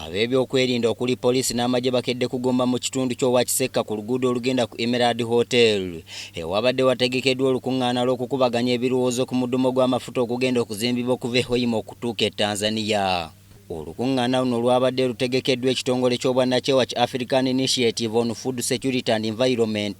Ab'ebyokwerinda okuli poliisi n'amagye bakedde kugomba mu kitundu ky'owa Kisekka ku luguudo olugenda ku Emerald Hotel ewabadde wategekeddwa olukung'aana lw'okukubaganya ebirowoozo ku mudumo gw'amafuta ogugenda okuzimbibwa okuva e Hoima okutuuka e Tanzania. Olukung'aana luno lwabadde lutegekeddwa ekitongole ky'obwannakyewa ki African Initiative on Food Security and Environment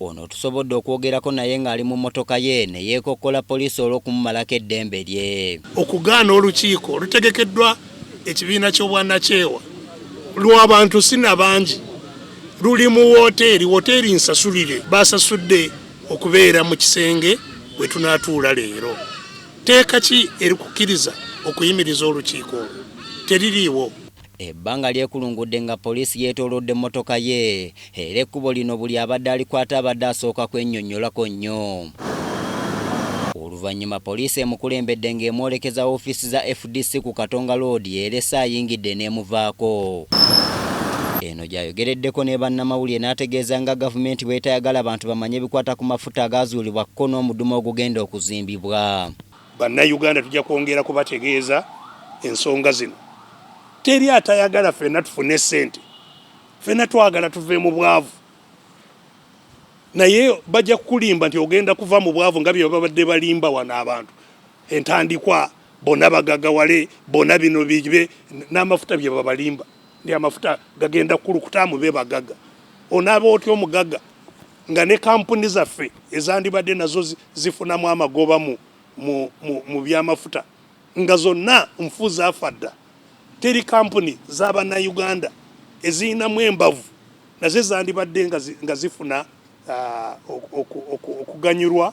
Ono tusobodde okwogerako naye ng'ali mu mmotoka ye ne yeekokkola poliisi olw'okumumalako eddembe lye. Okugaana olukiiko olutegekeddwa ekibiina ky'obwanakyewa lwa bantu si na bangi luli mu wooteeri wooteeri Nsasulire baasasudde okubeera mu kisenge we tunaatuula leero. Tteeka ki erikukkiriza okuyimiriza olukiiko olwo? Teririiwo. Ebbanga lyekulungudde nga poliisi yeetoolodde mmotoka ye era ekkubo lino buli abadde alikwata abadde asooka kwenyonyolako nnyo. Oluvannyuma poliisi emukulembedde ng'emwolekeza woofiisi za fdc ku Katonga Road erese ayingidde n'emuvaako. Eno gy'ayogereddeko ne bannamawulire n'ategeeza nga gavumenti bw'etayagala bantu bamanye bikwata ku mafuta agaazuulibwa kko n'omudumu ogugenda okuzimbibwa. Bannayuganda tujja kwongera kubategeeza ensonga zino. Teri atayagala fenna tufune sente, fenna twagala tuve mu bwavu, naye bajja kukulimba nti ogenda kuva mu bwavu nga byebabadde balimba wano abantu entandikwa bona bagagawale bona bino bibe n'amafuta byebabalimba ndi amafuta gagenda kukulukuta mube bagaga onaaba otya omugaga nga ne kampuni zaffe ezandibadde nazo zifunamu amagoba mu, mu, mu, mu byamafuta nga zonna nfu zaafa dda. Teri kampuni za bannayuganda ezirinamu embavu nazo ezandibadde nga zifuna uh, okuganyulwa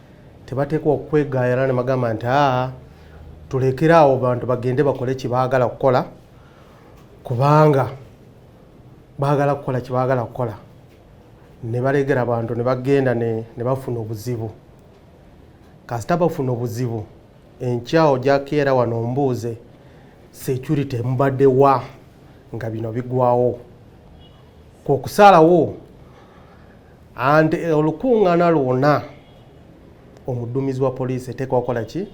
tebateekwa okwegaayala ne bagamba nti aa tulekere awo bantu bagende bakole kyebaagala kukola kubanga baagala kukola kyebaagala kukola ne balegera abantu ne bagenda ne bafuna obuzibu kasita bafuna obuzibu enkyawo gyakeera wano ombuuze security mubadde wa nga bino bigwawo kwokusaalawo anti eh, olukuŋŋaana lwona omuduumizi wa poliisi eteekwa okukola ki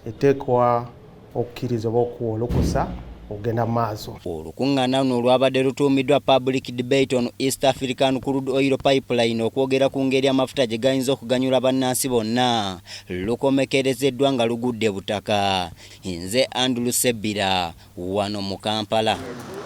eteekwa okukkiriza oba okuwa olukusa okugenda mu maaso olukuŋŋaana luno olwabadde lutuumiddwa public debate on east african crude oil pipeline okwogera ku ngeri amafuta gye gayinza okuganyula bannansi bonna lukomekerezeddwa nga lugudde butaka nze andrew sebbira wano mu kampala